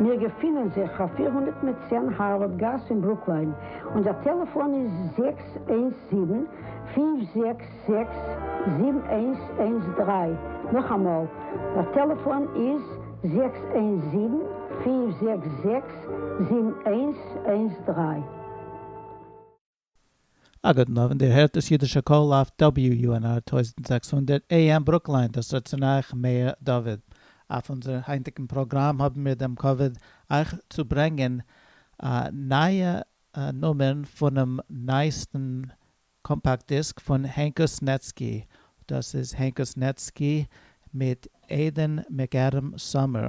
מיר געפינען זיך אויף פֿיר הונדערט מיט צען הארווארד גאס אין ברוקליין, און דער טעלעפאן איז זעקס איינס זיבן, פֿינף זעקס זעקס, זיבן איינס איינס דרײַ, נאכאמאל, דער טעלעפאן איז זעקס איינס זיבן, פֿינף זעקס זעקס, זיבן איינס איינס דרײַ. אגב, נאר ווען דיר הערט דאס אידישע קול אויף WUNR טויזנט זעקס הונדערט AM ברוקליין, דאס רעדט צו אייך מאיר דוד. אויף אונזער היינטיגן פראגראם האבן מיר דעם כבוד אייך צו ברענגען א נייע נומער פונעם נייעסטן קאמפאקט דיסק פון הענקוס נעצקי, דאס איז הענקוס נעצקי מיט עדען מעקאדעם סאמער.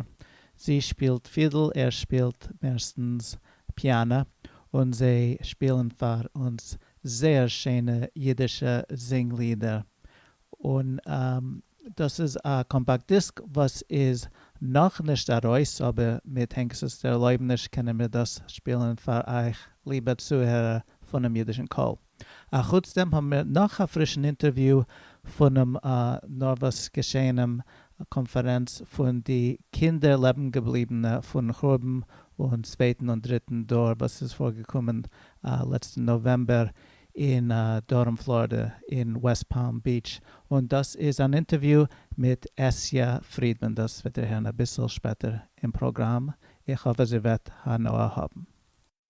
זי שפילט פידל, ער שפילט מערסטנס פיאנע, און זיי שפילן פאר אונז זייער שענע אידישע זינג לידער, און דאס איז א קאמפאקט דיסק וואס איז נאכנישט ארויס אבער מיט הענקס'ס ערלויבעניש קענען מיר דאס שפילן פאר אייך ליבע צוהערער פונעם אידישן קול. אחוץ דעם האבן מיר נאך א פרישן אינטערוויו פונעם נארוואס געשעהנעם קאנפערענץ פון די קינדער לעבן געבליבענע פון חורבן און צווייטן און דריטן דור וואס איז פארגעקומען לעצטן נאוועמבער אין דרום פלארידע אין וועסט פאלם ביעטש און דאס איז אן אינטערוויו מיט עשיה פרידמאן דאס וועט איר הערן אביסל שפעטער אין פראגראם איך האף אז איר וועט הנאה האבן.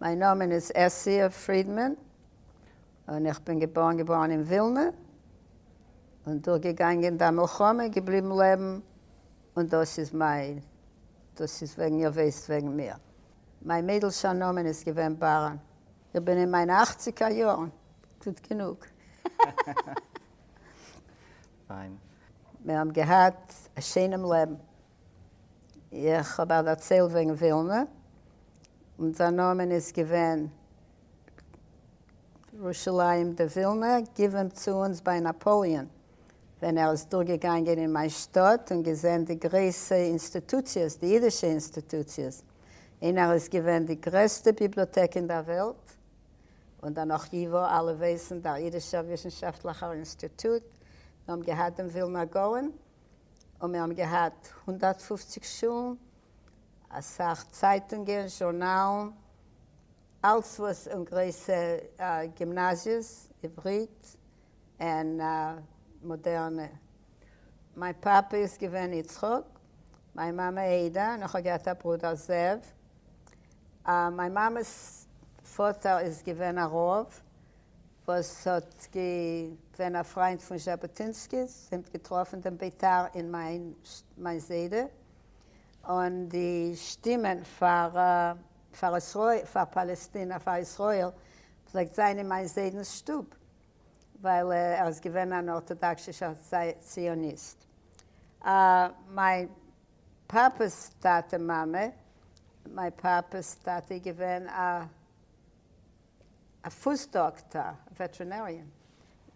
מיין נאמען איז עסיע פרידמאן, און איך בין געבארן געווארן אין ווילנע, און דורכגעגאנגען די מלחמה, געבליבן לעבן, און דאס איז מיין, דאס איז וועגן איר ווייסט וועגן מיר. מיין מיידלשער נאמען איז געווען באראן. איך בין אין מיינע אכציגער יארן, גוט גענוג. פיין. מיר האבן געהאט א שיינעם לעבן. איך האב א דערצייל וועגן ווילנע, און זיין נאמען איז געווען ירושלים די ווילנע גיווען צו אונז ביי נאפאליען, ווען ער איז דורגעגאנגען אין מיין שטאט און געזען די גרויסע אינסטוטוציעס, די אידישע אינסטוטוציעס, אין ער איז געווען די גרעסטע ביבליאטעק אין דער וועלט. און דערנאך ייווא, אלע ווייסן דער אידישער וויסנשאפטליכער אינסטיטוט, מיר האבן געהאט דעם ווילנא גאון, און מיר האבן געהאט הונדערט פֿופֿציק שולן, אסאך צייטונגען, זשורנאלן, אלץ וואס, און גרויסע גימנאזיעס, עברית, און מאדערנע. מיין פאפע איז געווען יצחק, מיין מאמע עדה, און איך האב געהאט א ברודער זאב. מיין מאמע'ס פאטער איז געווען א רב וואס האט געווען א פריינט פון זשאבאטינסקי, זיי האבן געטראפן דעם ביתר אין מיין זיידע, און די שטימען פאר פאר פאר פאלעסטינע פאר ישראל פלעגט זיין אין מיין זיידנ'ס שטוב. ווייל ער איז געווען אן ארטאדאקסישער ציוניסט. מיין פאפע'ס טאטע מאמע, מיין פאפע'ס טאטע איז געווען א א פוס דאקטאר, א וועטרינעריען,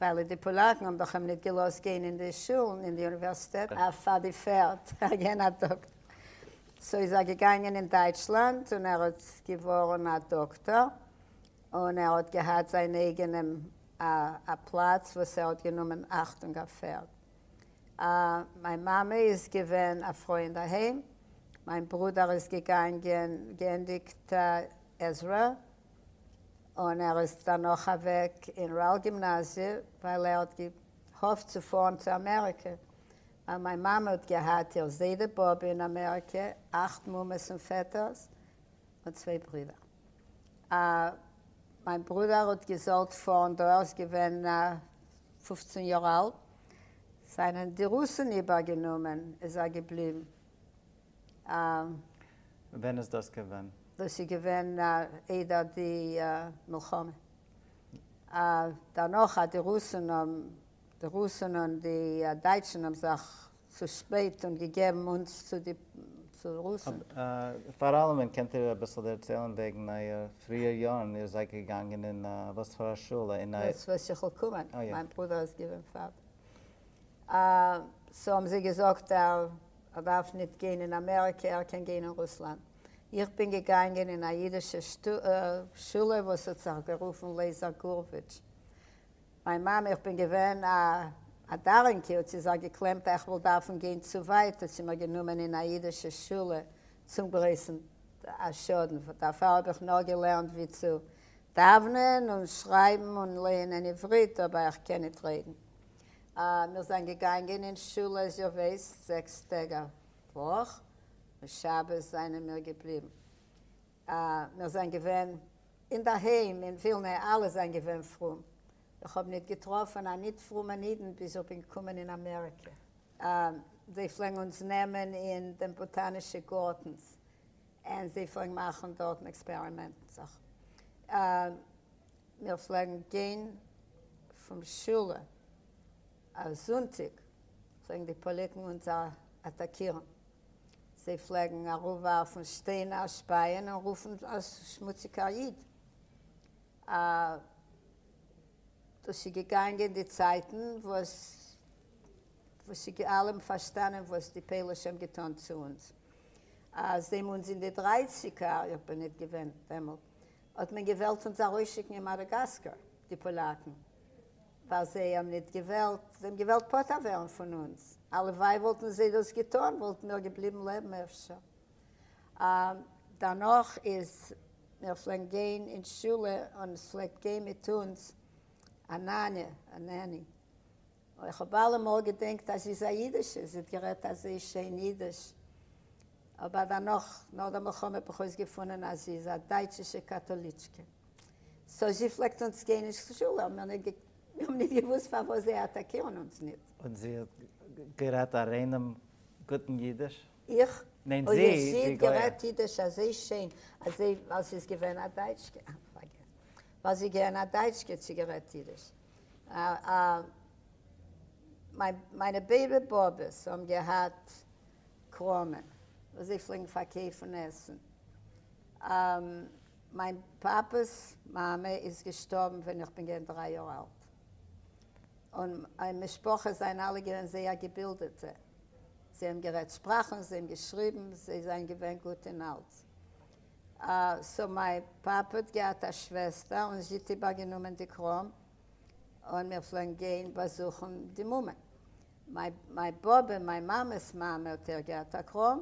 ווייל די פאלאקן האבן דאך אים ניט געלאזט גיין אין די שולן אין די אוניווערסיטעט פאר די פערד, ער איז געווען א דאקטאר. סאו איז ער געגאנגען אין דייטשלאנד און ער איז געווארן א דאקטאר, און ער האט געהאט זיין אייגענעם א א פלאץ וואס ער האט גענומען אכטונג אויף פערד. א מיין מאמע איז געווען א פרוי אינדערהיים, מיין ברודער איז געגאנגען געענדיגט עזרה, און ער איז דערנאך אוועק אין ראל גימנאזיע ווייל ער האט געהאפט צו פארן צו אמעריקע, ווייל מיין מאמע האט געהאט איר זיידע באבע אין אמעריקע, אכט מומעס און פעטערס, און צוויי ברידער. אה, מיין ברודער האט געזאלט פארן דא, ער איז געווען פופצן יאר אלט, זענען די רוסן איבערגענומען, איז ער געבליבן. אה. ווען איז דאס געווען? דאס איז געווען איידער די מלחמה. אה, דערנאך אז די רוסן האבן, די רוסן און די דייטשן האבן זיך צו שפעט און געגעבן אונז צו די רוסן. פאר אלעמען קענט איר אביסל דערציילן וועגן אייער פריער יארן, איר זייט געגאנגען אין וואס פאר א שולע? אין א. דאס וואס איך וועל קומען, מיין ברודער איז געווען פאר. סאו האבן זיי געזאגט ער דארף ניט גיין אין אמעריקע ער קען גיין אין רוסלאנד. איך בין געגאנגען אין א אידישע שולע וואס האט זיך גערופן לעזער גורוויטש. מיין מאמע איך בין געווען א א דארלינג קינד האט זי זיך געקלעמט איך וועל דארפן גיין צו ווייט האט זי מיר גענומען אין א אידישע שולע צום גרויסן שאדן דערפאר האב איך נאר געלערנט ווי צו דאוונען און שרייבן און לייענען עברית אבער איך קען ניט רעדן אה מיר זענען געגאנגען אין שולע איז איר ווייסט זעקס טעג א וואך און שבת זענען מיר געבליבן אה, מיר זענען געווען אינדערהיים אין ווילנע, אלע זענען געווען פרום. איך האב ניט געטראפן א ניט פרומען אידן ביז איך בין געקומען אין אמעריקע. אה, זיי פלעגן אונז נעמען אין דעם באטאנישע גארטנס און זיי פלעגן מאכן דארטן עקספערימענטן זאכן. אה, מיר פלעגן גיין פון שולע אויף זונטיק, פלעגן די פאליקן אונז אטאקירן. זיי פלעגן אראפווארפן שטיינער, שפייען און רופן אז שמוציגער איד. א. דאס איז געגאנגען די צייטן וואס וואס איז געווען אלעם פארשטאנען וואס די פוילישע האבן געטאן צו אונז. אז דעם אונז אין די דרייסיגער, איך בין ניט געווען דעמאלט, האט מען געוועלט אונז ארויסשיקן אין מאדאגאסקאר, די פאלאקן. ווייל זיי האבן ניט געוועלט, זיי האבן געוועלט פטור ווערן פון אונדז. הלוואי וואלטן זיי דאס געטאן, וואלטן מיר געבליבן לעבן אפשר. אה, דערנאך איז, מיר פלעגן גיין אין שולע און עס פלעגט גיין מיט אונדז א נאנע, א נעני. אוי, איך האב אלע מאל געדענקט אז זי איז א אידישע, זי האט גערעדט אזוי שיין אידיש. אבער דערנאך, נאך דער מלחמה, האב איך אויסגעפונען אז זי איז א דייטשישע קאטאליטשקע. סאו זי פלעגט אונז גיין נישט צו שול האבן מיר נישט געק מיר האבן נישט געוואוסט פארוואס זיי אטאקירן אונז ניט. און זי האט גערעדט א ריינעם גוטן אידיש? איך? ניין זי, אוי זי האט די גויע. גערעדט אידיש אזוי שיין אז זיי ווייל זי איז געווען א דייטשקע אה פארגעס ווייל זי געוען א דייטשקע האט זי גערעדט אידיש אה אה מיין מיינע ביידע באבעס האבן געהאט קראמען וואס זיי פלעגן פארקעיפן עסן אה. מיין פאפעס מאמע איז געשטארבן ווען איך בין געווען דריי יאר אלט, און מיין משפחה זענען אלע געווען זייער געבילדעטע, זיי האבן גערעדט שפראכן, זיי האבן געשריבן, זיי זענען געווען גוט אין אלץ. סאו מיין פאפע האט געהאט א שוועסטער און זי האט איבערגענומען די קראם, און מיר פלעגן גיין באזוכן די מומע. מיין באבע, מיין מאמע'ס מאמע, האט אויך געהאט א קראם,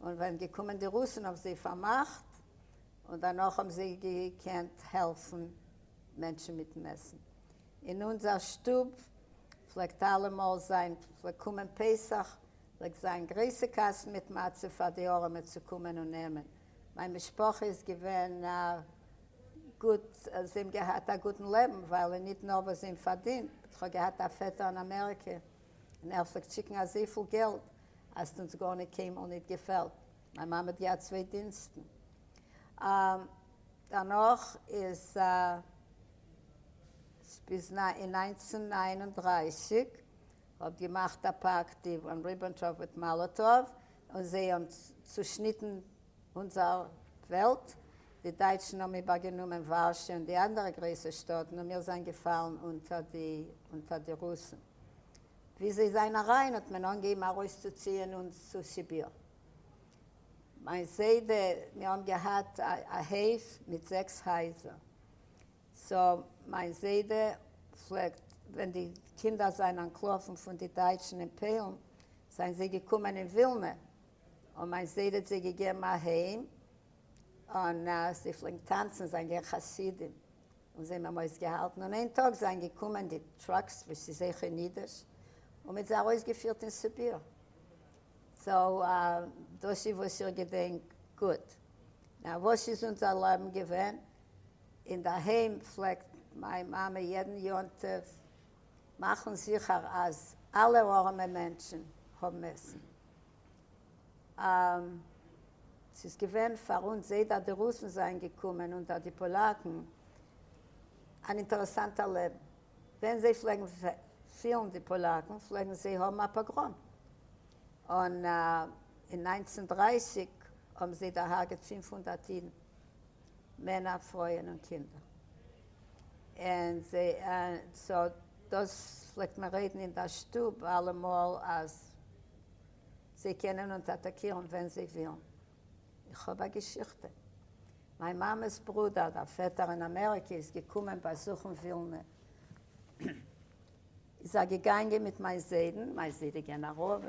און ווען געקומען די רוסן האבן זיי פארמאכט, און דערנאך האבן זיי געקענט העלפן מענטשן מיטן עסן. אין אונזער שטוב פלעגט אלעמאל זיין, פלעגט קומען פסח, פלעגט זיין גרויסע קאסטן מיט מצה פאר די ארעמע צו קומען און נעמען. מיין משפחה איז געווען גוט, זיי האבן געהאט א גוטן לעבן, ווייל אין ניט נאר וואס זיי האבן פארדינט, איך האב געהאט א פעטער אין אמעריקע און ער פלעגט שיקן אזויפיל געלט אז ס'האט אונז גארניט קיינמאל ניט געפעלט. מיין מאמע האט געהאט צוויי דינסטן. דערנאך איז עס ביז אין נײַנצן נײַן און דרײַסיק האט געמאכט א פאקט די וואן ריבענטראפ מיט מאלאטאוו און זיי האבן צושניטן אונזער וועלט. די דייטשן האבן איבערגענומען ווארשע און די אנדערע גרויסע שטאטן און מיר זענען געפאלן אונטער די אונטער די רוסן. ווי זיי זיין אריין האט מען אנגעהיבן ארויסצוציען אונז צו סיביר. מיין זיידע, מיר האבן געהאט א הויף מיט זעקס הייזער, סאו מיין זיידע פלעגט ווען די קינדער זיין אנטלאפן פון די דייטשן אין פוילן זיין זיי געקומען אין ווילנע און מיין זיידע האט זיי געגעבן א היים און זיי פלעגן טאנצן זיין געווען חסידים און זיי האבן אויסגעהאלטן און איין טאג זענען געקומען די טראקס וואס איז זיי כנדרש און מיט זיי ארויסגעפירט אין סיביר סאו דאס איז וואס איך געדענק גוט נאר וואס איז אונזער לעבן געווען אינדערהיים פלעגט מיין מאמע יעדן יום טוב מאכן זיכער אז אלע ארעמע מענטשן האבן עסן ס'איז געווען פאר אונז זייט אט די רוסן זענען געקומען און אט די פאלאקן אן אינטערעסאנטער לעבן. ווען זיי פלעגן פילן די פאלאקן פלעגן זיי האבן א פאגראם. און אין נײַנצן דרײַסיק האבן זיי דערהארגעט פֿינף הונדערט אידן, מענער, פרויען און קינדער. און סאו דאס פלעגט מען רעדן אין דער שטוב אלעמאל אז זיי קענען אונז אטאקירן ווען זיי ווילן. איך האב א געשיכטע. מיין מאמע'ס ברודער, דער פעטער אין אמעריקע, איז געקומען באזוכן ווילנע. איז ער געגאנגען מיט מיין זיידן, מיין זיידע געווען א רב,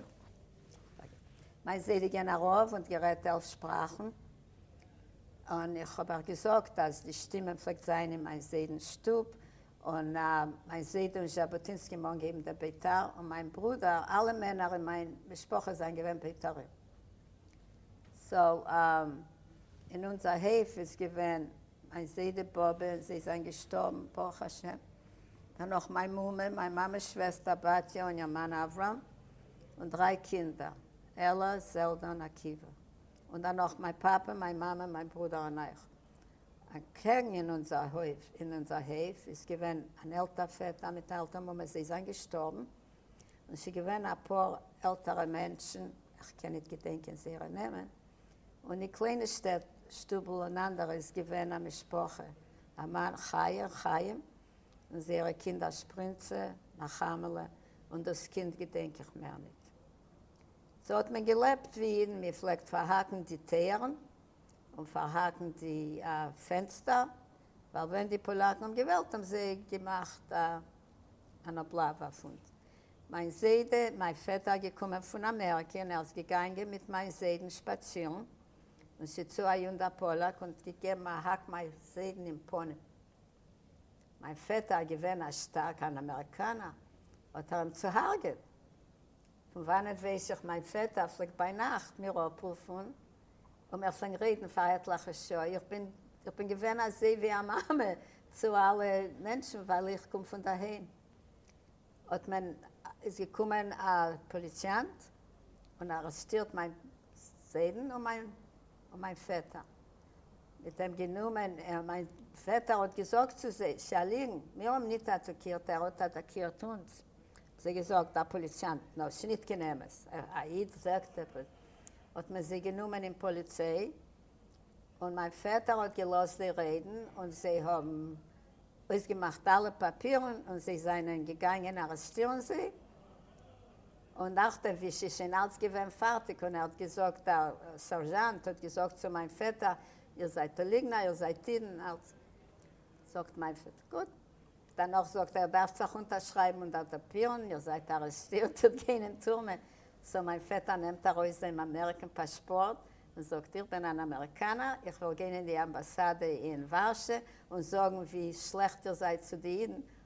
מיין זיידע געווען א רב און גערעדט עלף שפראכן. און איך האב אייך געזאגט אז די שטימען פלעגט זיין אין מיין זיידנ'ס שטוב, און מיין זיידע און ז'אבוטינסקי האבן אנגעהויבן דער ביתר, און מיין ברודער, אלע מענער אין מיין משפחה זענען געווען ביתרים. סאו אין אונזער הויף איז געווען מיין זיידע באבע, זיי זענען געשטארבן ברוך השם, דערנאך מיין מומע, מיין מאמע'ס שוועסטער בתיה און איר מאן אברהם, און דריי קינדער, עלאַ, זעלדע און עקיבא, און דערנאך מיין פאפע, מיין מאמע, מיין ברודער און איך. אַקעגן אין אונדזער הױף, אין אונדזער הױף איז געװען אַן עלטער פֿעטער מיט אַ עלטער מומע, זײ זײַנען געשטאָרבן, און ס'איז געװען אַ פּאָר עלטערע מענטשן, איך קען ניט געדענקען זײערע נעמען, און אין קלײנע שטעט, שטובל און אַנדערע, איז געװען אַ משפּחה, אַ מאַן, חיה און חײם, און זײערע קינדער, שפּרינצע, נחמהלע, און דאָס קינד געדענק איך מער ניט. ס'האָט מען געלעבט, װי ייִדן, מע פֿלעגט פֿאַרהאַקן די טײערן, און פארהאקן די א פענסטער, ווייל ווען די פאלאקן האבן געוועלט האבן זיי געמאכט א אן אבלאווע פון מיין זיידע, מיין פעטער געקומען פון אמעריקע און ער איז געגאנגען מיט מיין זיידן שפאצירן און ס'צו א יונדע פאלאק און געגעבן א האק מיין זיידן אין פנים, מיין פעטער געווען א שטארקע אן אמעריקאנער האט ער אים צוהארגעט. פון וואנעט ווייס איך? מיין פעטער פלעגט ביינאכט מיר אפרופן און מיר פלעגן רעדן פאר עטליכע שעה, איך בין איך בין געווען אזוי ווי א מאמע צו אלע מענטשן ווייל איך קום פון דערהיים, האט מען איז געקומען א פאליציאנט און ארעסטירט מיין זיידן און מיין און מיין פעטער מיט דעם גענומען, ער, מיין פעטער, האט געזאגט צו זיי, ס'איז א ליגן, מיר האבן ניט אטאקירט, ער האט אטאקירט אונז, האבן זיי געזאגט, דער פאליציאנט, נאר ס'איז ניט קיין אמת, א איד זאגט עפעס, האט מען זיי גענומען אין פאליציי, און מיין פעטער האט געלאזט זיי רעדן, און זיי האבן אויסגעמאכט אלע פאפירן, און זיי זיינען געגאנגען ארעסטירן זיי. און נאכדעם ווי ס'איז שוין אלץ געווען פארטיג און ער האט געזאגט, דער סערזשאנט האט געזאגט צו מיין פעטער, איר זייט א ליגנער, איר זייט אידן, אלץ זאגט מיין פעטער, גוט. דערנאך זאגט ער, איר דארפט זיך אונטערשרייבן און דעטאפירן, איר זייט ארעסטירט, איר גיין אין טורמע. סאו מיין פעטער נעמט ארויס זיין אמעריקען פאשפארט און זאגט, איך בין אן אמעריקאנער, איך וועל גיין אין די אמבאסאדע אין ווארשע און זאגן ווי שלעכט איר זייט צו די אידן,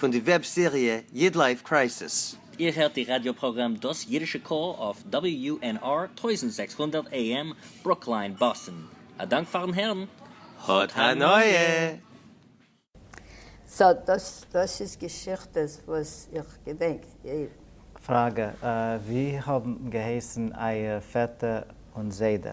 פון די וועב סעריע איד לייף קרייסיס. איר הערט די ראדיא פראגראם דאס אידישע קול אויף WUNR טויזנט זעקס הונדערט AM ברוקלין באסטן. א דאנק פארן הערן. האט הנאה! סאו דאס דאס איז געשיכטעס וואס איך געדענק די. פראגע, ווי האבן געהייסן אייער פעטער און זיידע?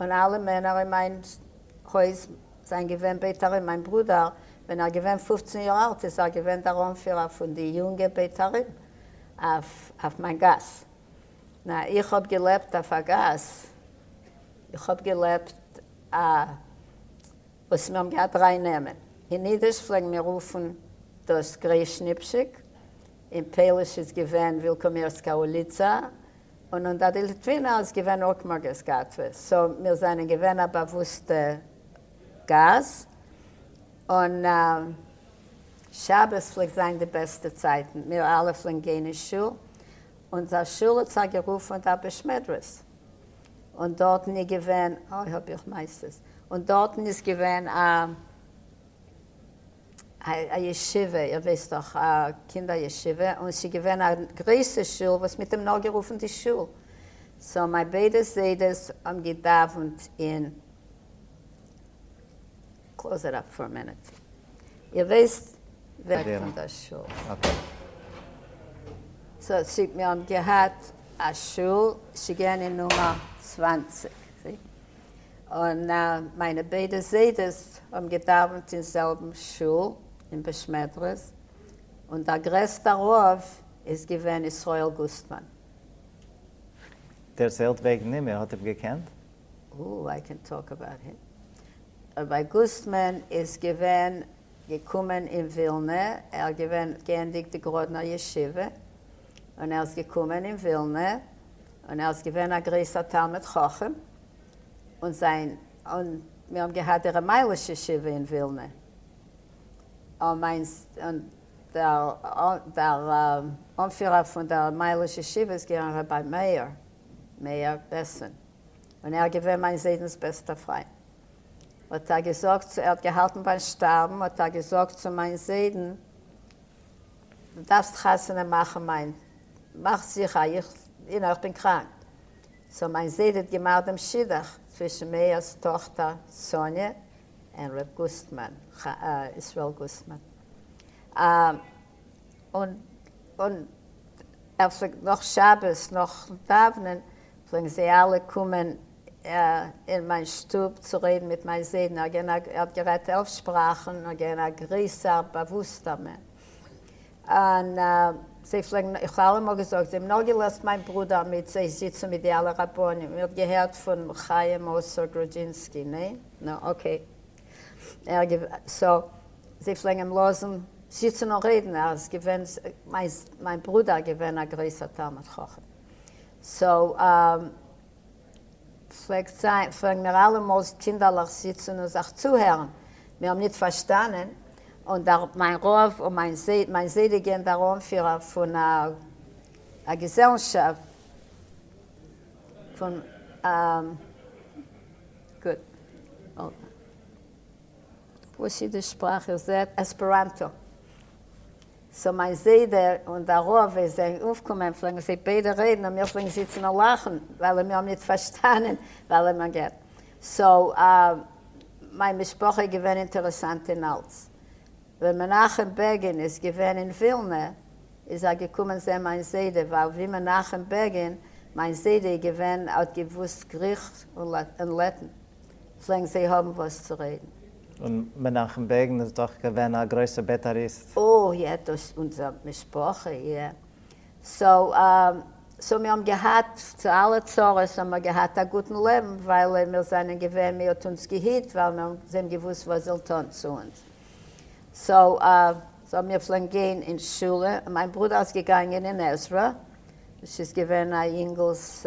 און אלע מענער אין מיין הויז זענען געווען ביתרים, מיין ברודער ווען ער געווען פופצן יאר אלט איז ער געווען דער אנפירער פון די יונגע ביתרים אויף מיין גאס, נע איך האב געלעבט אויף א גאס, איך האב געלעבט א וואס מיר האבן געהאט דריי נעמען, אין אידיש פלעגן מיר רופן דאס גרעשניפשיק, אין פעליש איז געווען ווילקאמירסקא אוליצא, און אונדער די ליטווינער איז געווען אוקמאגעס גאטווע, סאו מיר זענען געווען א באוואוסטע גאס, און שבת פלעגט זיין די בעסטע צייטן, מיר אלע פלעגן גיין אין שול, אונזער שול האט זיך גערופן דער בישמדרעס, און דארטן איז געווען, אוי האב איך מייסטעס, און דארטן איז געווען א. א ישיבה, איר ווייסט דאך, א קינדער ישיבה, און ס'איז געווען א גרויסע שול וואס מ'האט אים נאר גערופן די שול, סאו מיין ביידע זיידעס האבן געדאווענט אין. קלאוז איט אפ פאר א מינוט, איר ווייסט ווער פון דער שול. סאו מיר האבן געהאט א שול, ס'איז געווען אין נומער צוואַנציק. און מיינע ביידע זיידעס האבן געדאווענט אין זעלבן שול אין בעשמעדרעס, און דער גרעסטער רב איז געווען ישראל גוסטמאן. דערציילט וועגן אים, איר האט אים געקענט? או, איי קען טאלק אבאוט הים. רבי גוסטמאן איז געווען געקומען אין ווילנע, ער געווען געענדיגט די גראדנער ישיבה, און ער איז געקומען אין ווילנע, און ער איז געווען א גרויסער תלמיד חכם, און זיין, און מיר האבן געהאט די ר' מיילעש ישיבה אין ווילנע, און מיין, און דער, דער אנפירער פון דער מיילעש ישיבה איז געווען ר' מאיר, מאיר בעסען, און ער איז געווען מיין זיידנ'ס בעסטער פריינט, האט ער געזאגט צו, ער האט געהאלטן ביים שטארבן, האט ער געזאגט צו מיין זיידן, דו דארפסט חתונה מאכן מיין מאך זיכער א איך אין איך בין קראנק סאו מיין זיידע האט געמאכט דעם שידוך צווישן מאיר'ס טאכטער סאניע און ר' גוסטמאן ישראל גוסטמאן און און ער פלעגט נאך שבת נאכן דאווענען פלעגן זיי אלע קומען אין מיין שטוב צו רעדן מיט מיין זיידן, ער געווען א ער האט גערעדט עלף שפראכן און געווען א גריסער באוואוסטער מען, און זיי פלעגן איך האב אלעמאל געזאגט זיי האבן נאר געלאזט מיין ברודער מיט זיי זיצן מיט די אלע רבנים, איר האט געהערט פון חיים מאוסער גרודזשינסקי, ניין? נו אקעי, ער געווע סאו זיי פלעגן אים לאזן זיצן און רעדן, ער איז געווען מיין מיין ברודער געווען א גרויסער תלמיד חכם, סאו פֿלעגט זײַן, פֿלעגן מיר אַלע מאָלס, קינדערלעך, זיצן און זיך צוהערן. מיר האָבן ניט פֿאַרשטאַנען, און דער מײַן רבֿ און מײַן זײדע, מײַן זײדעגען, דער אָנפֿירער פֿון אַ אַ געזעלשאַפֿט, פֿון אַ גוט, אָט װאָס ייִדיש-שפּראַך, איר זעט, עספּעראַנטאָ. סאו מיין זיידע און דער רב ווען זיי אויפקומען פלעגן זיי ביידע רעדן און מיר פלעגן זיצן און לאכן ווייל מיר האבן ניט פארשטאנען וועלען מען געט. סאו מיין משפחה איז געווען אינטערעסאנט אין אלץ. ווען מנחם בעגין איז געווען אין ווילנע איז ער געקומען זען מיין זיידע ווייל ווי מנחם בעגין מיין זיידע איז געווען ער האט געוואוסט גריכש און לעטן. פלעגן זיי האבן וואס צו רעדן. און מנחם בעגין איז דאך געווען א גרויסע בית"ריסט. אוי יעצט דאס אונזער משפחה איא. סאו סאו מיר האבן געהאט צו אלע צרות האבן מיר געהאט א גוטן לעבן ווייל מיר זענען געווען מען האט אונז געהיט ווייל מיר זיי האבן געוואוסט וואס זיי זאלן טון צו אונז סאו סאו מיר פלעגן גיין אין שולע און מיין ברודער איז געגאנגען אין עזרה וואס איז געווען א יונגעלס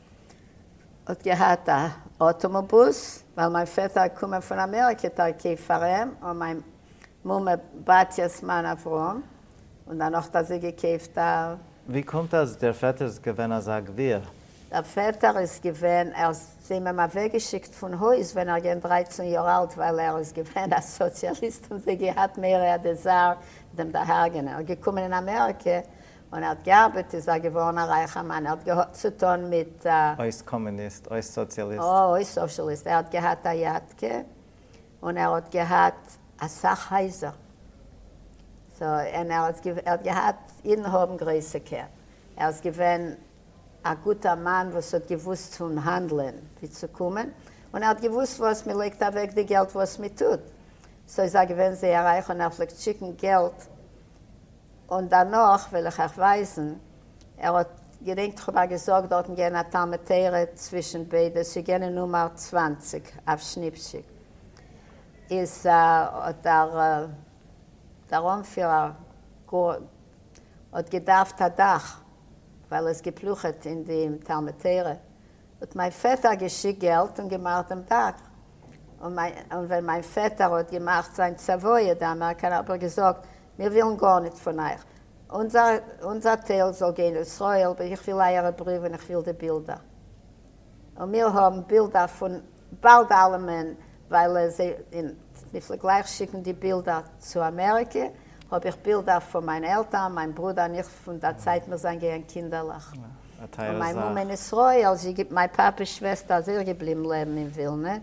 האט געהאט א אטאמאבוס ווייל מיין פעטער איז קומען פון אמעריקע תרכיב פאר אים און מיין מומע בתי'ס מאן אברהם און דערנאך האט זי געקויפט א. ווי קומט אז דער פעטער איז געווען אזא גביר? דער פעטער איז געווען ער האט אים אים אוועק געשיקט פון הויז ווען ער געווען דרייצן יאר אלט ווייל ער איז געווען א סאציאליסט און זיי געהאט מער א דעזייר דעם דערהרגענען ער געקומען אין אמעריקע און ער האט געארבעט איז ער געווארן א רייכער מאן, ער האט געהאט צוטון מיט. אויס קאמוניסט, אויס סאציאליסט. אה, אויס סאשעליסט, ער האט געהאט א יאטקע, און ער האט געהאט אסאך הייזער, סאו, און ער איז ער האט געהאט, אידן האבן גרויסע קעפ, ער איז געווען א גוטער מאן וואס האט געוואוסט צו האנדלען ווי צו קומען, און ער האט געוואוסט וואס מען לייגט אוועק די געלט וואס מען טוט, סאו איז ער געווען זייער רייך, און ער פלעגט שיקן געלט און דערנאך וועל איך אייך ווייזן, ער האט, געדענקט איך האב אייך געזאגט דארטן געוען א תלמוד תורה צווישן ביידע ס'גענע נומער צוואַנציק אויף שניפשיק איז האט דער דער אנפירער גאר האט געדארפט א דאך ווייל עס געפלוכעט אין די תלמוד תורה האט מיין פעטער געשיקט געלט און געמאכט דעם דאך, און ווען מיין פעטער האט געמאכט זיין צוואה די אמעריקאנער האב איך געזאגט מיר ווילן גארניט פון אייך, אונזער טייל זאל גיין לישראל, איך וויל אייערע בריוו און איך וויל די בילדער, און מיר האבן בילדער פון באלד אלעמען ווייל עס אין מפלג גלייך שיקן די בילדער צו אמעריקע האב איך בילדער פון מיין עלטערן מיין ברודער און איך פון דער צייט מיר זיין געוען קינדערלעך און מיין מום אין ישראל זי גיבט מיין פאפעס שוועסטער איז אויך געבליבן לעבן אין ווילנע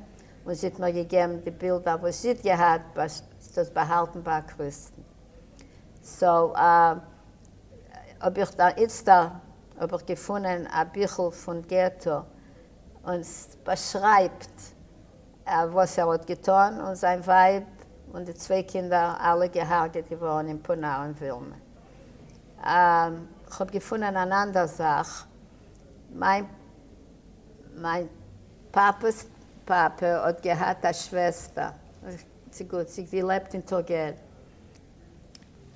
און זי האט מיר געגעבן די בילדער וואס זי האט געהאט ביי דאס באהאלטן ביי א קריסטן סאו האב איך דער איצטער האב איך געפונען א ביכל פון געטא און באשרייבט וואס ער האט געטון און זיין ווייב און די צוויי קינדער אלע געהארגעט געווארן אין פונא און ווילנע. איך האב געפונען אן אנדער זאך, מיין מיין פאפע'ס פאפע האט געהאט א שוועסטער, זי געלעבט אין טורגעל,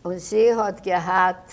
און זי האט געהאט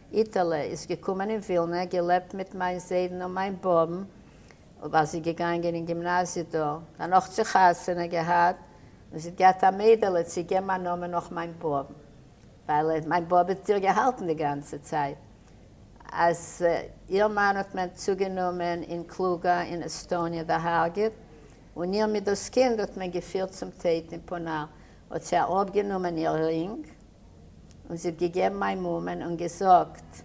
איטעלע, איז געקומען אין ווילנע, געלעבט מיט מיין זיידן און מיין באבן, ווייל זי איז געגאנגען אין גימנאזיע דא, דערנאך צו חתונה געהאט, און זי האט געהאט א מיידעלע, צו געבן א נאמען נאך מיין באבן, ווייל מיין באבע האט איר געהאלטן די גאנצע צייט, אז איר מאן האט מען צוגענומען אין קלוגא אין עסטאניע דערהארגעט, און איר מיט דאס קינד האט מען געפירט צום טעיט אין פונאר, האט זי אראפגענומען איר רינג, און זי האט געגעבן מיין מאמען און געזאגט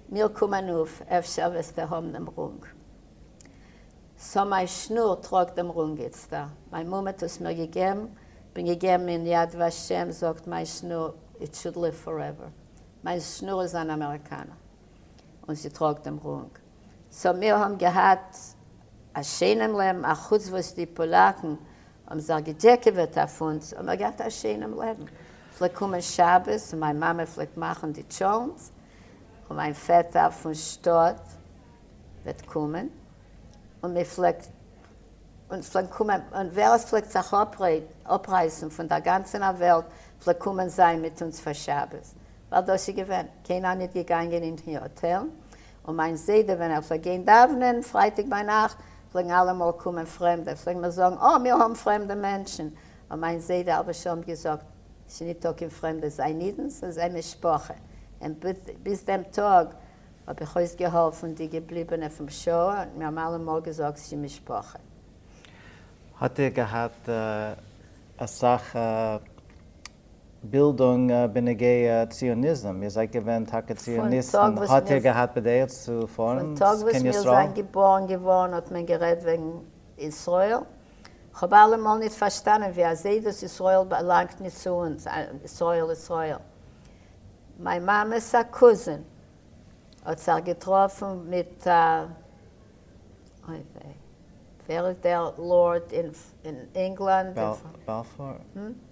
מיר קום אנוף אפשר וועסטו האבן דעם רונג סא מיין שנור טראגט דעם רונג איצטער מיין מאמע האט עס מיר געגעבן בין געגעבן אין יד ושם זאגט מיין שנור איט שוד ליוו פארעווער מיין שנור איז אן אמעריקאנער און זי טראגט דעם רונג סא מיר האבן געהאט א שיינעם לעבן אחוץ וואס די פאלאקן האבן זיך געדזשעקעוועט אויף אונז, האבן מיר געהאט א שענעם לעבן, פלעגט קומען שבת און מיין מאמע פלעגט מאכן די טשולנט, און מיין פעטער פון שטאט וועט קומען, און מען פלעגט אונז פלעגן קומען, און ווער עס פלעגט זיך אפרייסן פון דער גאנצענער וועלט פלעגט קומען זיין מיט אונז פאר שבת, ווייל דאס איז געווען, קיינער ניט געגאנגען אין היאטעלן, און מיין זיידע ווען ער פלעגט גיין דאוונען פרייטאג ביינאכט פלעגן אלעמאל קומען פרעמדע פלעגן מיר זאגן אה מיר האבן פרעמדע מענטשן און מיין זיידע אלוועס שולעמט געזאגט ס'ניטא קיין פרעמדע זיי אידן ס'איז זיי משפחה און ביז דעם טאג האב איך אויסגעהאלפן די געבליבענע פון שואה און מיר האבן אלעמאל געזאגט ס'איז משפחה. האט איר געהאט אסאך בילדונג בנוגע ציוניזם, איר זייט געווען טאקע ציוניסטן, האט איר געהאט בדעה צו פארן קיין ישראל? געבארן געווארן האט מען גערעדט וועגן ישראל, כ'האב אלעמאל נישט פארשטאנען ווי אזוי דאס ישראל באלאנגט נישט צו אונז, ישראל ישראל, מיין מאמע'ס א קוזין האט זיך געטראפן מיט א אויף ע. ווער איז דער לארד אין ענגלאנד? באלפור?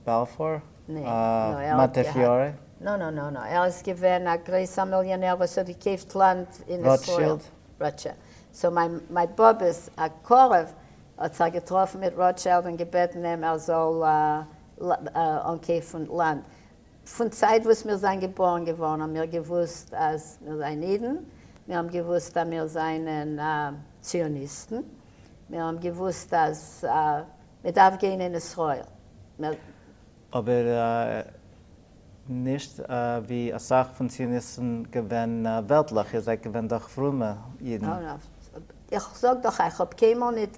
באלפור? מאנטעפיורי? נאו נאו נאו נאו, ער איז געווען א גרויסער מיליאנער וואס האט געקויפט לאנד אין ישראל. ראטשילד. סאו מיין באבעס א קרוב האט זיך געטראפן מיט ראטשילד און געבעטן אים ער זאל אנקויפן לאנד. פון צייט וואס מיר זיין געבארן געווארן האבן מיר געוואוסט אז מיר זיין אידן, מיר האבן געוואוסט אז מיר זיינען ציוניסטן, מיר האבן געוואוסט אז מען דארף גיין אין ישראל, מיר. אבער נישט ווי אסאך פון ציוניסטן געווען וועלטליך, איר זייט געווען דאך פרומע אידן. איך זאג דאך איך האב קיינמאל נישט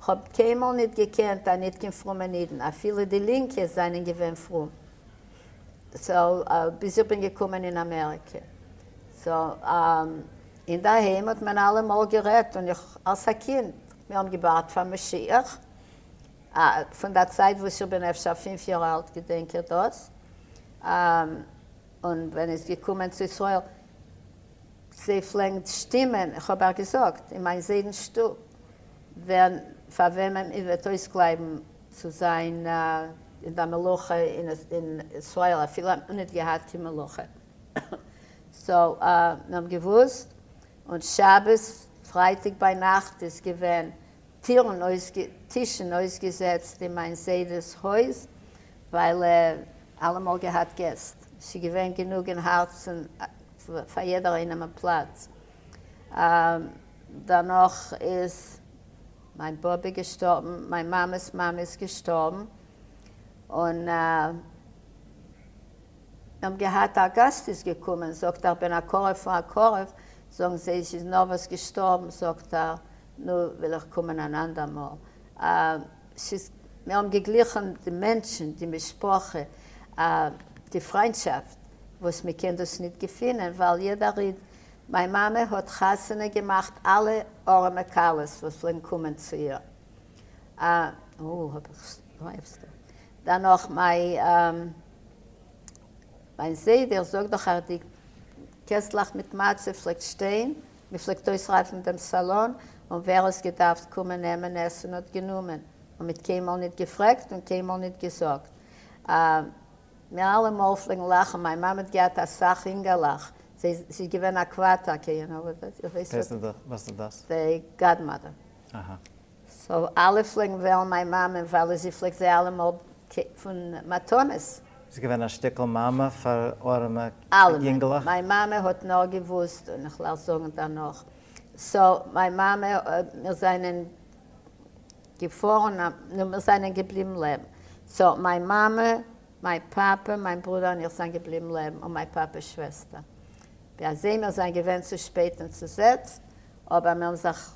כ'האב קיינמאל ניט געקענט א ניט קיין פרומען אידן, אפילו די לינקע זיינען געווען פרום, ביז איך בין געקומען אין אמעריקע, אינדערהיים האט מען אלע מאל גערעדט, און איך אלס א קינד, מיר האבן געווארט פאר משיח, פון דער צייט וואס איך בין אפשר פינף יאר אלט געדענק איך דאס, און ווען איז געקומען צו ישראל, זיי פלעגן שטימען, איך האב אייך געזאגט, אין מיין זיידנ'ס שטוב, ווער פאר וועמען איר וועט אויסקלייבן צו זיין אין דער מלוכה אין ישראל, אפילו האט מען ניט געהאט קיין מלוכה, סאו מיר האבן געוואוסט, און שבת פרייטאג ביינאכט איז געווען טירן אויס טישן אויסגעזעצט אין מיין זיידע'ס הויז, ווייל ער האט אלעמאל געהאט געסט. ס'געווען גענוג אין הארצן פאר יעדער איינעם א פלאץ. דערנאך איז מיין באבע געשטארבן, מיין מאמע'ס מאמע איז געשטארבן, און מיר האבן געהאט א גאסט איז געקומען, זאגט ער, כ'בין א קרוב פון א קרוב, זאגן זיי, זי איז נארוואס געשטארבן, זאגט ער, נו, וויל איך קומען אן אנדער מאל. ס'איז, מיר האבן געגליכן די מענטשן, די משפחה, א, די פריינטשאפט, וואס מען קען דאס ניט געפינען, ווייל יעדער איד, מיין מאמע האט חתונה געמאכט אלע ארעמע כלות וואס פלעגן קומען צו איר, א, או, האב איך סטאפ, דערנאך מיי, א, מיין זיידע, איך זאג דאך אויף די קעסטלעך מיט מצה פלעגט שטיין, מ'פלעגט אויסרייפן דעם סאלאן, און ווער האס געדארפט קומען נעמען עסן האט גענומען, און מ'האט קיינמאל ניט געפרעגט און קיינמאל ניט געזאגט. מיר אלע מאל פלעגן לאכן, מיין מאמע האט געהאט א סך אינגעלעך, זי איז געווען א קוואטער, קעי יו נאו וואט דעט? איר ווייסט וואס דעס איז? ווער איז דאס? די גאדמאדער. אהה. סאו אלע פלעגן וועלן מיין מאמע ווייל זי פלעגט זיי אלעמאל קעפן מתנות. זי איז געווען א שטיקל מאמע פאר ארעמע יונגלעך? מיין מאמע האט נאר געוואוסט, און איך לאל זאגן דערנאך, סאו מיין מאמע, מיר זענען געפארן, נו מיר זענען געבליבן לעבן, סאו מיין מאמע, מיין פאפע, מיין ברודער און איך זענען געבליבן לעבן, און מיין פאפע'ס שוועסטער, ווי אזוי מיר זענען געווען צו שפעט און צוזעצט, אבער מיר האבן זיך.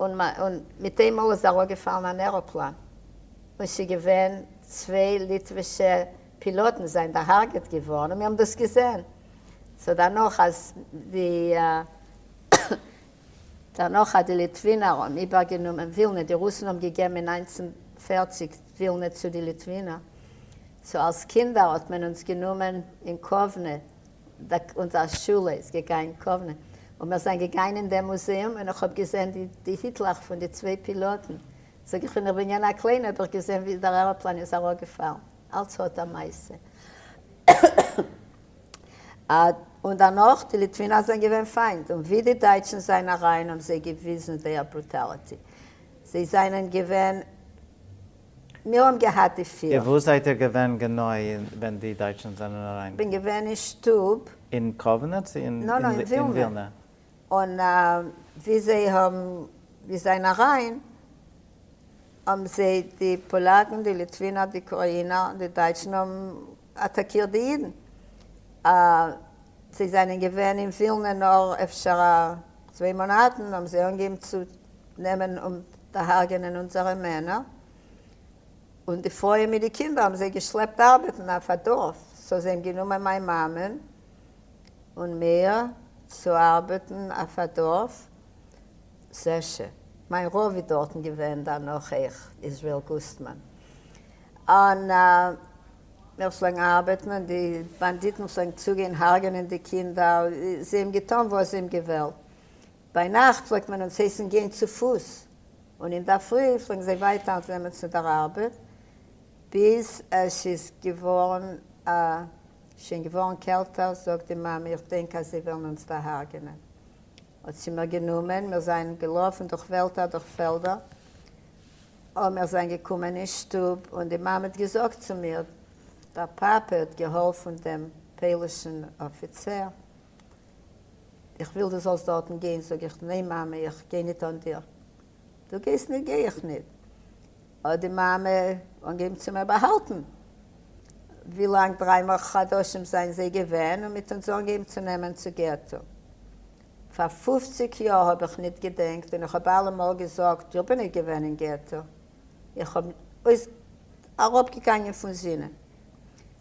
און מיט איינמאל איז אראפגעפאלן אן עראפלאן און ס'געווען צוויי ליטווישע פילאטן זענען דערהארגעט געווארן און מיר האבן דאס געזען, סאו דערנאך אז די דערנאך אז די ליטווינער האבן איבערגענומען ווילנע, די רוסן האבן געגעבן אין נײַנצן פֿערציק ווילנע צו די ליטווינער, סאו אלס קינדער האט מען אונז גענומען אין קאוונע אונזער שולע איז געגאנגען קאוונען און מיר זענען געגאנגען אין דעם מוזעאום און איך האב געזעהן די היטלעך פון די צוויי פילאטן, זאג איך ווען איך בין געווען א קליינע האב איך געזעהן ווי דער עראפלאן איז אראפגעפאלן, אלץ האט א מעשה. און דערנאך די ליטווינער זענען געווען פיינט און ווי די דייטשן זענען אריין האבן זיי געוויזן זייער ברוטאליטי, זיי זענען געווען מיר האבן געהאט די פֿיר. וואו זייט איר געווען גענוי ווען די דייטשן זענען אריין? בין געווען אין שטוב. אין קאוונע צו אין ווילנע? און ווי זיי האבן ווי זיין אריין האבן זיי די פאלאקן די ליטווינער די קראינער די דייטשן האבן אטאקירט די אידן אה זיי זענען געווען אין ווילנע נאר אפשר א צוויי מאנאטן האבן זיי אנגעהויבן צו נעמען און דערהארגענען אונזערע מענער, און די פרויען מיט די קינדער האבן זיי געשלעפט ארבעטן אויף א דארף, סאו זיי האבן גענומען מיין מאמען און מיר צו ארבעטן אויף א דארף, זשע, מיין רב איז דארטן געווען דערנאך אויך, איזריעל גוסטמאן, און. מיר פלעגן ארבעטן און די באנדיטן פלעגן צוגיין הרג'נען די קינדער, זיי האבן געטאן וואס זיי האבן געוועלט. ביינאכט פלעגט מען אונז הייסן גיין צו פוס, און אינדערפרי פלעגן זיי ווייטער נעמען צו דער ארבעט, ביז עס איז געווארן א. שוין געווארן קעלטער, זאגט די מאמע, איך דענק אז זיי וועלן אונז דערהרג'נען. האָט זי מיר גענומען, מיר זײַנען געלאָפֿן דורך װעלדער, דורך פֿעלדער, אָ, מיר זײַנען געקומען אין שטוב, און די מאַמע האָט געזאָגט צו מיר, דער פּאַפּע האָט געהאָלפֿן דעם פּױלישן אָפֿיצער, איך װיל, דו זאָלסט דאָרטן גײן. זאָג איך, נײן, מאַמע, איך גײ ניט אָן דיר. דו גײסט ניט, גײ איך ניט. האט די מאמע אנגעהויבן צו מער באהאלטן, ווי לאנג דריי מאך חדשים זענען זיי געווען און מיט אונז אנגעהויבן צו נעמען צו געטו. פאר פופציג יאר האב איך ניט געדענקט און איך האב אלע מאל געזאגט איך בין ניט געווען אין געטו, איך האב אויס אראפגעגאנגען פון זינען,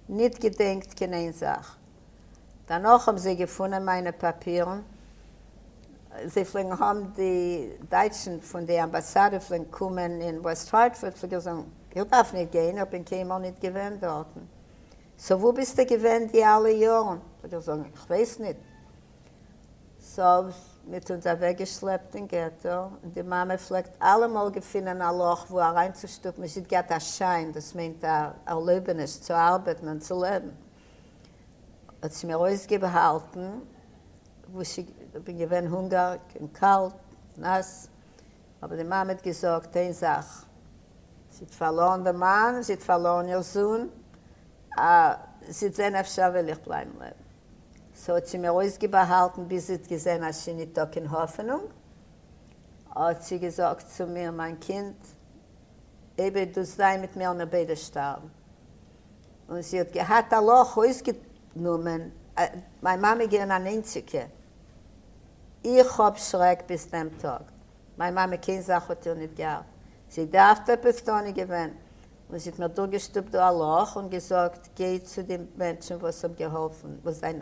ניט געדענקט קיין איין זאך. דערנאך האבן זיי געפונען מיינע פאפירן, זיי פלעגן האבן די דייטשן פון די אמבאסאדע פלעגן קומען אין וועסט הארטפארד, פלעג איך זאגן איך דארף נישט גיין איך בין קיינמאל נישט געווען דארטן, סאו וואו ביסטו געווען די אלע יארן, פלעג איך זאגן איך ווייס נישט, סאו מיט אונז אוועק געשלעפט אין געטא, און די מאמע פלעגט אלעמאל געפינען א לאך וואו אריינצושטופן, מען איז געהאט א שיין דאס מיינט א ערלויבעניש צו ארבעטן און צו לעבן. האט זי מיר אויסגעבהאלטן וואס זי בין געווען הונגערג און קאלט נאס אבער די מאמע האט געזאגט איין זאך זי האט פארלארן די מאן זי האט פארלארן איר זון אז זי האט זעהן אפשר וועל איך בלייבן לעבן סאו האט זי מיר אויסגעבהאלטן ביז זי האט געזעהן אז ס'איז ניטא קיין האפענונג האט זי געזאגט צו מיר מיין קינד אייביג דו זיי מיט מיר מיר ביידע שטארבן. און זי האט געהאט א לאך אויסגענומען, מיין מאמע איז געווען אן איינציגע, איך האב שרעק ביז דעם טאג, מיין מאמע קיין זאך האט איר ניט געהאט, זי דארפט עפעס טאן איז געווען, און זי האט מיר דורכגעשטופט דא א לאך און געזאגט גיי צו די מענטשן וואס האב געהאלפן וואס זיין.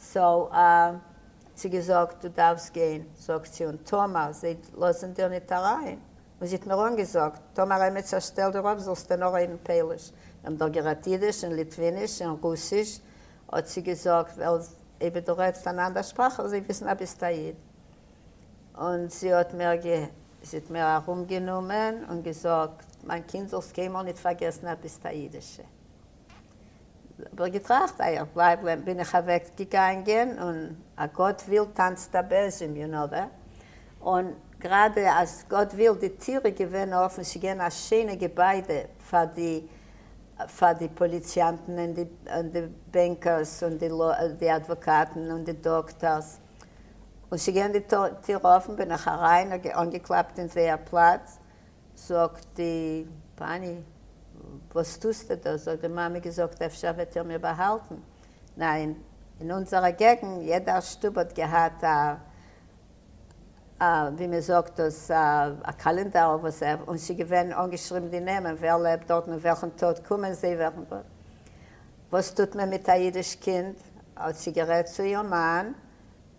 סאו אה, צו געזאגט דו דארפסט גיין, זאגט זי, און טאמער זיי לאזן דיר ניט אריין, און זי האט מיר אנגעזאגט, טאמער עמיצער שטעלט דיר אפ זאלסטו נאר רעדן פאליש, מיר האבן דאך גערעדט אידיש און ליטוויניש און רוסיש, האט זי געזאגט, ווייל אויב דו רעדסט אן אנדער שפראך וועלן זיי וויסן אז ביסט א איד, און זי האט מיר זי האט מיר ארומגענומען און געזאגט, מיין קינד זאלסט קיינמאל ניט פארגעסן אז ביסט א אידישע. האב איך געטראכט איי איך בלייב לעבן בין איך אוועק געגאנגען און א גאט וויל טאנצט א בעזים יו נאו ווער און גראדע אז גאט וויל די טיר איז געווען אפען ס'איז געווען א שיינע געביידע פאר די פאר די פאליציאנטן און די און די בענקערס און די די אדוואקאטן און די דאקטארס און ס'איז געווען די טיר אפען בין איך אריין און אנגעקלאפט אין זייער פלאץ זאגט די פאני, וואס טוסטו דא? זאגט די מאמע, געזאגט אפשר וועט איר מיר באהאלטן, ניין, אין אונזערע געגנט יעדע שטוב האט געהאט א א ווי מען זאגט דאס א קאלענדאר אויף וואס ער און ס'געווען אנגעשריבן די נעמען ווער לעבט דארטן און וועלכן טאג קומען זיי וועלכן טאג וואס טוט מען מיט א אידיש קינד האט זי גערעדט צו איר מאן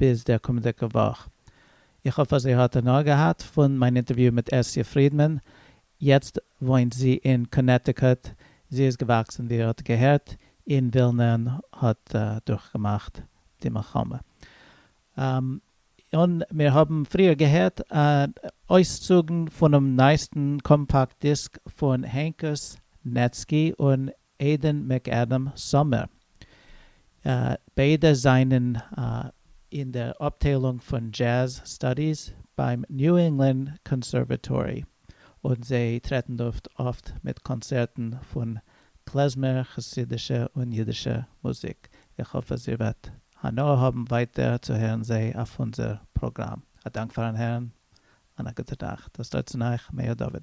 ביז דער קומענדיגע וואך. איך האף אז איר האט הנאה געהאט פון מיין אינטערוויו מיט אסיה פרידמאן. יעצט וואוינט זי אין קאנעטיקוט. זי איז געוואקסן, ווי איר האט געהערט, אין ווילנע און האט דורכגעמאכט די מלחמה. און מיר האבן פריער געהערט אויסצוגן פונעם נייעסטן קאמפאקט דיסק פון הענקוס נעצקי און עדען מעקאדעם סאמער, ביידע זענען אין דער אפטיילונג פון דזשעז סטאדיס ביים ניו ענגלאנד קאנסערוועטארי, און זיי טרעטן אויף אפט מיט קאנצערטן פון קלעזמער חסידישע און אידישע מוזיק. איך האף אז איר וועט הנאה האבן ווייטער צו הערן זיי אויף אונזער פראגראם. א דאנק פארן הערן, און א גוטע נאכט. דאס דארט צו נייעך, מאיר דוד.